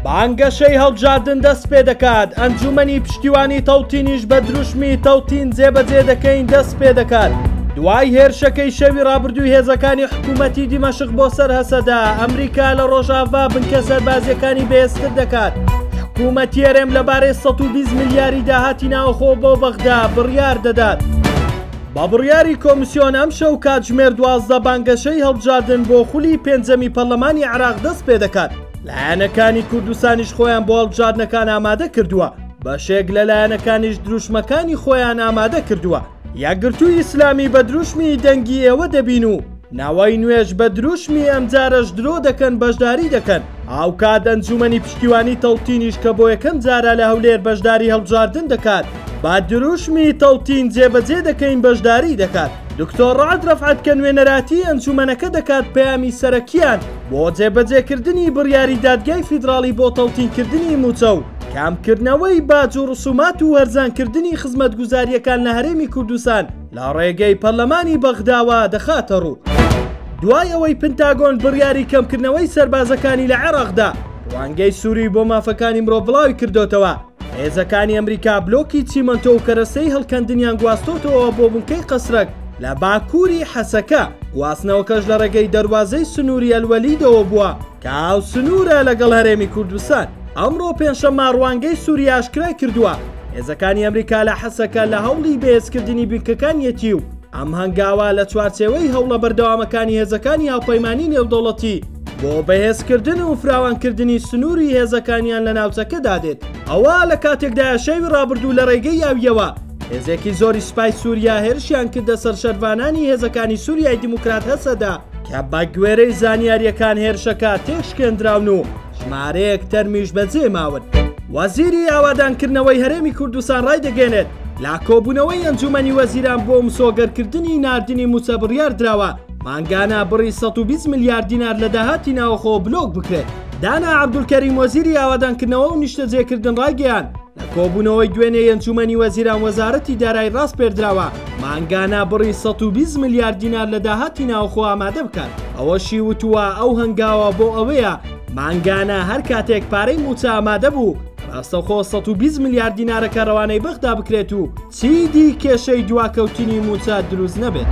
بانگەشەی هەڵبژاردن دەست پێ دەکات ئەنجومەنی پشتیوانی تەوتینیش بە دروشمی تەوتین جێبەجێ دەکەین دەست پێ دەکات دوای هێرشەکەی شەوی ڕابردووی هێزەکانی حکوومەتی دیمەشق بۆ سەر هەسەدا ئەمریکا لە ڕۆژاڤا بنکە سەربازیەکانی بێستر دەکات حکوومەتی هەرێم لەبارەی 120 ملیاری داهاتی ناوخۆ بۆ بەغدا بڕیار دەدات. بە بڕیاری کۆمسیۆن ئەمشەو کاتژمێر دوازدە بانگەشەی هەڵبژاردن بۆ خولی پێنجەمی پەرلەمانی عێراق دەست پێ دەکات، لایەنەکانی کوردستانیش خۆیان بۆ هەڵبژاردنەکان ئامادە کردووە، بەشێک لە لایەنەکانیش دروشمەکانی خۆیان ئامادە کردووە، یەکگرتووی ئیسلامی بە دروشمی دەنگی ئێوە دەبین و ناوەی نوێژ بە دروشمی ئەمجارەش درۆ دەکەن بەشداری دەکەن هاوکات ئەنجومەنی پشتیوانی تەوتینیش کە بۆ یەکەم جارە لە هەولێر بەشداری هەڵبژاردن دەکات با دروشمی تەوتین جێبەجێ دەکەین بەشداری دەکات دکتۆر ڕعد ڕەفعەت کە نوێنەراتی ئەنجومەنەکە دەکات پەیامی سەرەکیان بۆ جێبەجێکردنی بڕیاری دادگای فیدراڵی بۆ تەوتینکردنی موچە و کامکردنەوەی باج و ڕسومات و هەرزانکردنی خزمەتگوزاریەکان لە هەرێمی کوردستان لە ڕێگەی پەرلەمانی بەغداوە دەخاتەڕوو. دوای ئەوەی پنتاگۆن بڕیاری کەمکردنەوەی سەربازەکانی لە عێراقدا ڕوانگەی سووری بۆ مافەکانی مرۆڤ بڵاوی کردۆتەوە هێزەکانی ئەمریکا بلۆکی چیمەنتۆ و کەرەستەی هەڵکەندنیان گواستۆتەوە بۆ بنکەی قەسرەک لە باکووری حەسەکە گواستنەوەکەش لە ڕێگەی دەروازەی سنووری ئەلوەلیدەوە بووە. کە هاوسنوورە لەگەڵ هەرێمی کوردستان. ئەمڕۆ پێنجشەممە ڕوانگەی سووریا ئاشکرایکردووە، هێزەکانی ئەمریکا لە حەسەکە لە هەوڵی بەهێزکردنی بنکەکانیەتی و ئەم هەنگاوە لە چوارچێوەی هەوڵە بەردەوامەکانی هێزەکانی هاوپەیمانی نێودەوڵەتی بۆ بەهێزکردن و فراوانکردنی سنووری هێزەکانیان لە ناوچەکەدا دێت. ئەوە لە کاتێکدایە شەوی ڕابردوو لە ڕێگەی ئاوییەوە، هێزێکی زۆری سوپای سووریا هێرشیان کردە سەر شەرڤانانی هێزەکانی سووریای دیموکرات هەسەدە کە بە گوێرەی زانیاریەکان هێرشەکە تێشکێندراون و ژمارەیەک تەرمیش بەجێ ماون. وەزیری ئاوادانکردنەوەی هەرێمی کوردستان ڕایدەگەێنێت لا کۆبوونەوەی ئەنجومەنی وەزیران بۆ مسۆگەرکردنی نردنی موچە بڕیار دراوە مانگانە بڕی 120 میلیارد دینار لە داهاتی ناوخۆ بلۆک بکرێت دانا عبدولکەری وەزیری ئاوادانکردنەوە و نیشتەجێکردن ڕایگەیان لە کۆبوونەوەی دوێنێی ئەنجوومەنی وەزیران وەزارەتی دارایی ڕاسپێردراوە مانگانە بڕی سەد و بیست ملیار دینار لە داهاتی ناوخۆ ئامادە بکات، ئەوەشی وتووە، ئەو هەنگاوە بۆ ئەوەیە مانگانە هەر کاتێک پارەی مووچە ئامادە بوو ڕاستەخۆ سەد و بیست ملیار دینارەکە ڕەوانەی بەغدا بکرێت و چیدی کێشەی دواکەوتنی مووچە دروست نەبێت.